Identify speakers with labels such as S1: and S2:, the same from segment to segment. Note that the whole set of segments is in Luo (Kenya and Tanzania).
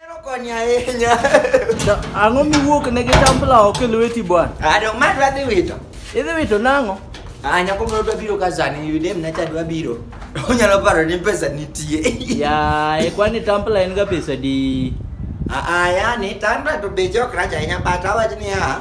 S1: Ero konyo ahinya. To ang'o
S2: miwuok ne gi tambla oko e lweti bwana? Ado ma dwa dhi wito.
S1: Idhi wito nang'o?
S2: Ah, nyako moro dwa
S1: biro ka sani, yudem na cha dwa biro. Onyalo paro ni pesa nitie. Yaye,
S2: kwani tambla en ga pesa di? Ah, ah, yani
S1: tambla to beche ok rach ahinya but awach niya,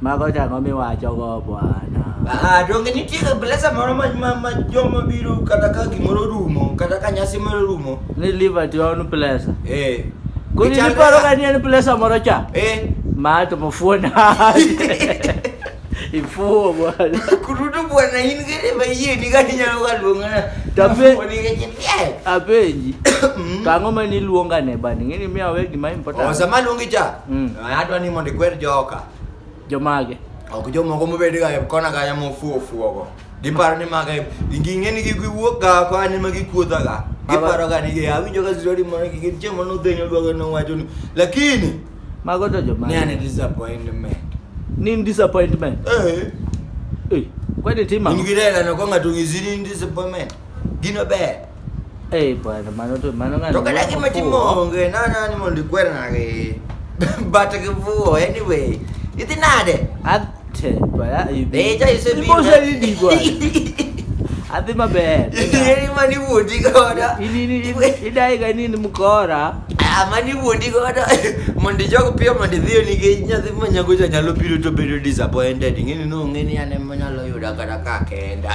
S1: Mago chang'o
S2: miwachogo Bwana? Ah, donge nitie
S1: kabilesa moro ma, ma, ma joma biro kata ka gimoro rumo kata ka nyasi moro rumo Ni Liberty on
S2: place. eh, Kuni Gichal- niparo ka ni en
S1: place
S2: moro cha. eh, Ma to mufuona. Ifuo Bwana. kurudu bwana
S1: in gere ma yie ni kati nyalo ka luongana Tabe- Ni kati nyalo- Apenji.
S2: Mm. Kang'o ma niluonga ne bani? Ng'eni miya we gima important. Oh, sama luongi cha
S1: Mm. Eh, adwa ni mondo ikwer joka Jomage.
S2: ok jomoko
S1: mobed ga kona kanya mofuo fuogo giparo ni maga ging'e ni giwuok ga ko an ema gikuodha ga giparo ga ni awinjo ka story moro gi gin chiemo no dhenyo dwago no wacho ni lakini Mago to
S2: jomage. ni an
S1: disappointment Ni
S2: disappointment. eh Eh. Kwani tima. in gi rela no ko ng'ato
S1: ng'isi ni in disappointment gino ber Eh, bwana,
S2: mano to mano ngani. To kata gima timonge,
S1: na na ni mondo ikwer nage. But kivuo anyway. Idhi nade? Ate,
S2: bwana, you be. Beja isebiro.
S1: Ibosa lidi
S2: bwana. Adhi maber. Yeri mani
S1: wuodi goda. Ini ni
S2: idai ga nini mkora. Ah, mani wuodi
S1: goda. Mondo jogo piyo mondo idhiyo nikech nyathi manyago cha nyalo biro to bedo disappointed. Ng'eni no ng'eni ane manyalo yuda kata kake. Enda.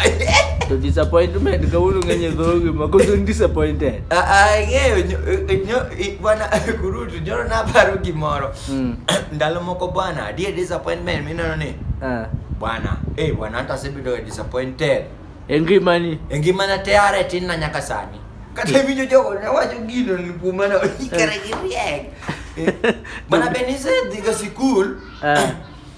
S1: to
S2: disappointment kawuono ng'eny e dhogi ma koso in disappointed Ah, ah, ng'eyo nyo-
S1: eh, nyo- eh, bwana kurutu nyoro naparo gimoro Mm. ndalo moko bwana adie disappointment mineno ni Ah. bwana eh bwana hata asebedo disappointed e ngimani
S2: e ngimana teare
S1: tin na nyaka sani kata winjo jogo ne wacho gino ni kuoma na ikere gi riek Eh, bwana be nisedhiga sikul Ah.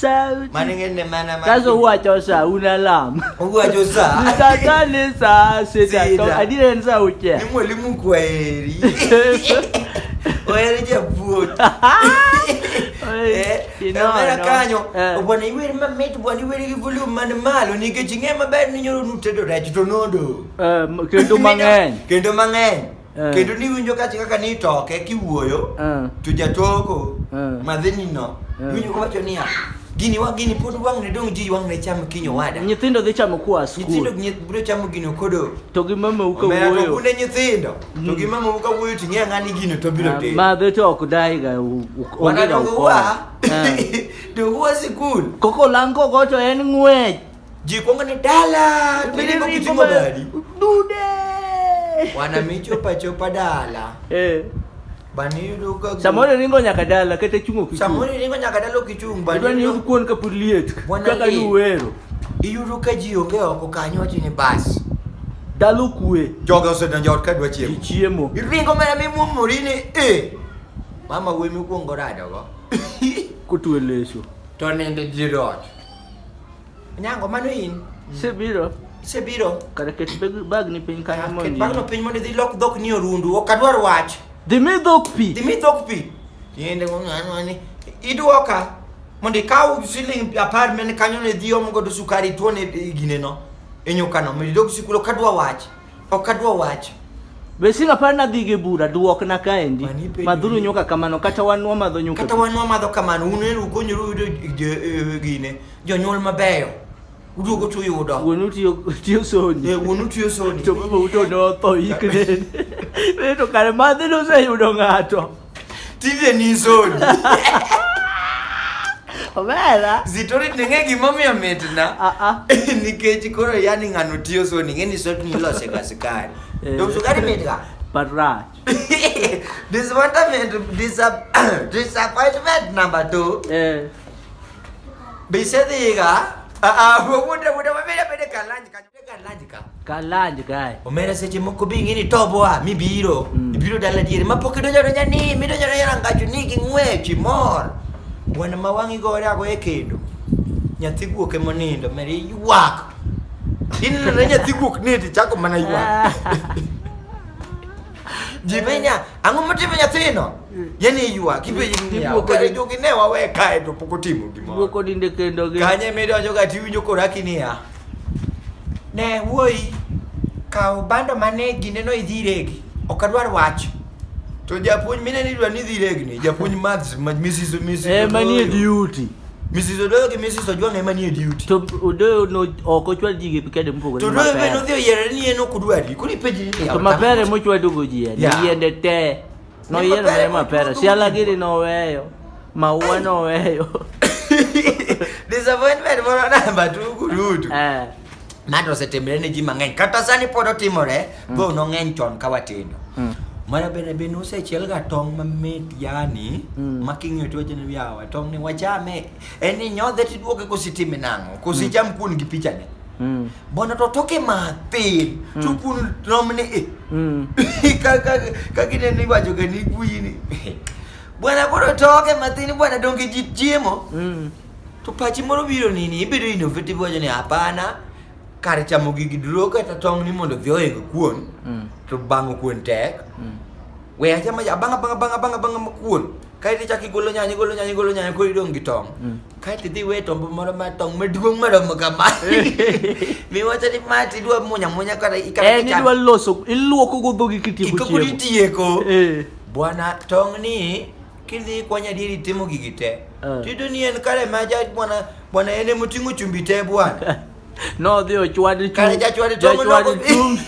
S2: Sauti. Manengene mana
S1: mana. Sasa huwa chosa
S2: una lam. Huwa chosa.
S1: Nitatane saa
S2: sita. Sita. Adire nsa uche. Ni mwalimu kwa
S1: heri. Oyere je vuot. Kamera kanyo. Bwana iweri mamit bwana iweri gi volume man malo nikech ing'e maber ni nyoro nutedo rech to nodo. Eh, kendo
S2: mang'eny. Kendo mang'eny.
S1: Eh. kendo niwinjo kachi kaka nitoke kiwuoyo Eh. to jatoko Eh. madhinino Eh. winjo kowacho niya gini wa gini pod wang' ne dong' ji wang' ne cham kinyo wada nyithindo dhi chamo koa
S2: nyithindo skul nyi- biro chamo
S1: gino kodo to gi mamau ka omera
S2: to wuoyo kunde nyithindo
S1: to gi mama wuka wuoyo to ing'e ang'a ni gino to biro timo madhe to ok daiga
S2: u- u- wana onge ga dongo ukora.
S1: wa Eh. dongo wa sikul koko lang kogo
S2: to en ng'wech Ji kwongo ni
S1: dala, tubende kwa kichungo badi. Dude.
S2: Wana micho
S1: pacho pa dala. Eh. Bani yudo ka gu- Samoro ringo nyaka dala
S2: kata chungo kichungo. Samoro iringo nyaka dala
S1: kichung' bani Idwa ni yudo- yud kuon ka pod
S2: liet Bwana kaka Lee. nuwero. iyudo ka ji
S1: onge oko kanyo wacho ni bas. Dalo
S2: kue Joga osedonjo ot ka
S1: dwa chiemo. ji chiemo. Iringo mana
S2: mimuomori
S1: ni e. Mama wuoyi mikwongo radogo. Kotue
S2: leso. To nende ji
S1: rot. Nyango mano in. Isebiro? Isebiro? Kare ket
S2: bagni piny kanyo mondo. Ket bagno piny mondo idhi lok
S1: dhok ni orundu. Ok adwar wach. Dhi mi dhok pi.
S2: Dhi mi dhok pi. Tiende
S1: ng'ani. Idwoka mondo ikaw siling apar mene kanyo ne dhi omo godo sukari tuone gineno. Enyokano. Mondo idog sikul ok adwar wach. Ok adwa wacho. Be sing apar
S2: na dhi gi bura duok na kaendi. Mani penjo Madhuru ni- nyuka kamano kata wan wamadho nyuka. Kata wan wamadho kamano,
S1: un elu ukonyuru yudo jo- eh, gine, jonyuol mabeyo. Uduogo to uyudo. Wuonu tiyo tiyo
S2: soni. Eh, wuonu tiyo soni. To
S1: baba uto ne otho
S2: ikne. Be to kare madhi noseyudo ng'ato. Tinde ni
S1: zodi.
S2: Omera. Zitori ning'e
S1: gimomiyo mitna. Ah ah. Nikech koro yani ng'ano tiyo zoni ng'e ni zodi nilose ga sukari. Eh. To sukari mitga. But right.
S2: Disappointment
S1: disap disappointment number 2. Eh. Bisedhiga. Ah ah, wuode wuode wabede bede kalany kanyo. Kalanj ka. Kalanj kae.
S2: Omera seche moko bi
S1: ing'e ni tobo a mibiro. Mm. Ibiro dala diere ma pok idonjo donja ni midonjo donja rangachu ni gi ng'wech imor. Wana ma wang'i gore ago e kendo. Nyathi guok ema onindo meri ywak. Ineno ne nyathi guok ni ti chako mana ywak. Ji benya ang'o motimo nyathino? Yani ywak ipenji ni Guok guok odi- jogi ne wawe kae to pok otimo gimoro. Guok odinde kendo gi.
S2: Kanye midonjo ga tiwinjo
S1: koraki niya. Ne wuoyi kaw bando mane gineno idhi iregi. Ok adwar wach. To japuonj mine ni dwa ni idhi iregni. Japuonj maths ma Mrs. Mrs. Eh, manie Odoyo.
S2: duty. Mrs. Odoyo gi
S1: Mrs. Ojwang ema nie duty. To Odoyo
S2: no ok ochwal ji gi kede mopogore To gi Odoyo be mapera. nodhi oyiero
S1: ni en ok odwari. Koro ipenji ni To mapera mochwadogo
S2: ji en Yeah. yiende te. Noyiero ne mapera, siala giri noweyo, maua noweyo. Disappointment
S1: moro namba tugu duto. Eh. Mato osetimre ne ji mang'eny. Kata sani pod otimore, mm. though nong'eny chon ka watindo. Mm. Mara bende bende usechiel ga tong' mamit yani mm. ma king'iyo to wachni yawa tong' ni wachame en ni nyodhe tiduoke kositime nang'o kosicham mm. kuon gi pichane. Mm. Bwana totoke mathin mm. to kun romne e. Mm. Kaka kaka ne ni wacho ke ni kuini. Bwana koro toke mathin bwana donge ji chiemo. Mm. To pachi moro biro nini ibedo innovative wacho ni hapana kar chamo gigi duro kata tong' ni mondo vioye kuon. Mm. To bang'o kuon tek. Mm. we aja ma abang abang abang abang abang ma kuon kae to chak igolo nyanya igolo nyanya igolo nyanya koro idong' gi tong' mm. kae to idhi we tombo moro ma tong' maduong' maromo kama miwacho ni ma tidwa munya munya kata en eh, idwa loso
S2: iluoko go dhogi kitieko chiemo koro itieko
S1: eh. bwana tong' ni kidhi kwanya dieri timo gigi te eh. tido ni en kare ma ja bwana bwana en emoting'o chumbi te bwana Nodhi
S2: ochwad chung'. Kare jachwad tong'
S1: Jachwad nodhi- chung'.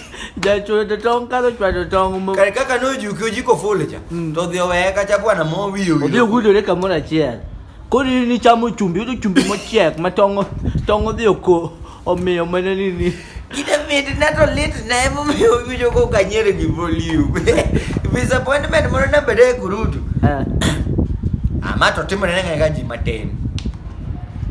S1: Jachwad
S2: tong' kalo chwado tong' mo. Kare kaka nojuki
S1: ojiko ful cha. Mm. To dhi oweye kacha bwana mo wiyo Odhi wiyo. ogudore kamoro
S2: achiel. Koro in ichamo chumbi, yudo chumbi mochiek ma tong' tong' odhi oko omiyo mana ni ni. Kite mit
S1: na to lit na emomiyo winjo ko kanyere gi volume. Disappointment moro nabede e kurutu. Eh. Ama to timore ne ng'e ka ji matin.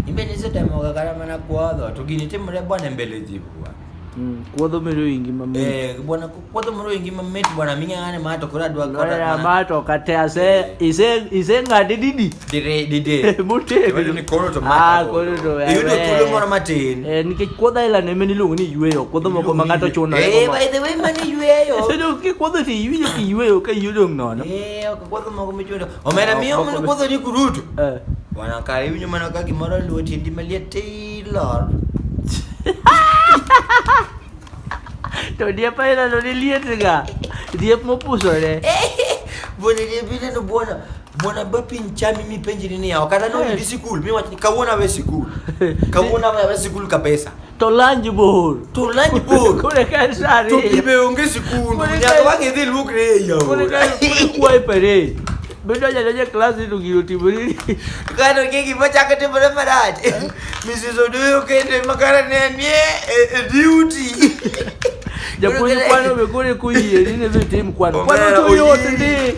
S1: Imbe nisetemoga kata mana kuodho to gini timre bwana mbele ji bwana. Mm, kuodho mero
S2: ingi mamit. Eh, bwana kuodho mero
S1: ingi mamit bwana mingi ngane ma to kora dwa kora. Ya ma to
S2: kate ase ise ise ngade didi. Dire
S1: dide. Mute. Wewe ni
S2: koro to ma.
S1: Ah, koro to. Iyo to
S2: kulo moro
S1: matin. Eh, nikech kuodho ila
S2: ne meni luongo ni yueyo, kuodho moko ma ngato chuno. Eh, by the way mani
S1: yueyo. Sedo ki kuodho ti
S2: yueyo ki yueyo ka yueyo nono. Eh, kuodho moko
S1: michuno. omera miyo mno kodho ni kurutu eh. bwana kare iwinjo mana ka gimoro luwo tiendi maliet taylor
S2: to diep ainano ni lietga diep mopusore bwana
S1: diep ineno bwana bwana ba piny chami mipenjri niya ok anano eh. idi sikul miwach kawuono awe sikul kawuono awe sikul kabisa To lanj
S2: bor. To lanj bor. Kore ka en saa ariyo. To pibe onge
S1: sikundu. Kore ka- Nyaka wang'e dhi luokre e yao. Kore ka kwaye
S2: parade. Bedo jadonjo e klas ni to gino otimore. Kano ke
S1: gima chako timore marach. Mrs. Odoyo kende makara ne nie e e duty.
S2: Japuonj kwano be kore koyieri ni dhi tim kwano. Kwano Omera to yot oyie. ndi.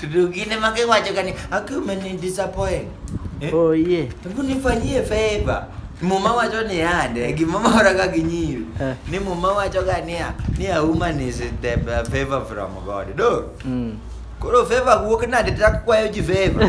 S1: Tudugine mage wacho kani akume ni disappoint. Eh? Oh
S2: yeah. Hebu nifanyie
S1: favor. Muma wacho ni ande gimomora ka ginyiri. Eh. Ni muma wacho ga niya ni a woman is the uh, favor from God. Do. Mm. Koro favor wuok nade tak kwayo ji favor.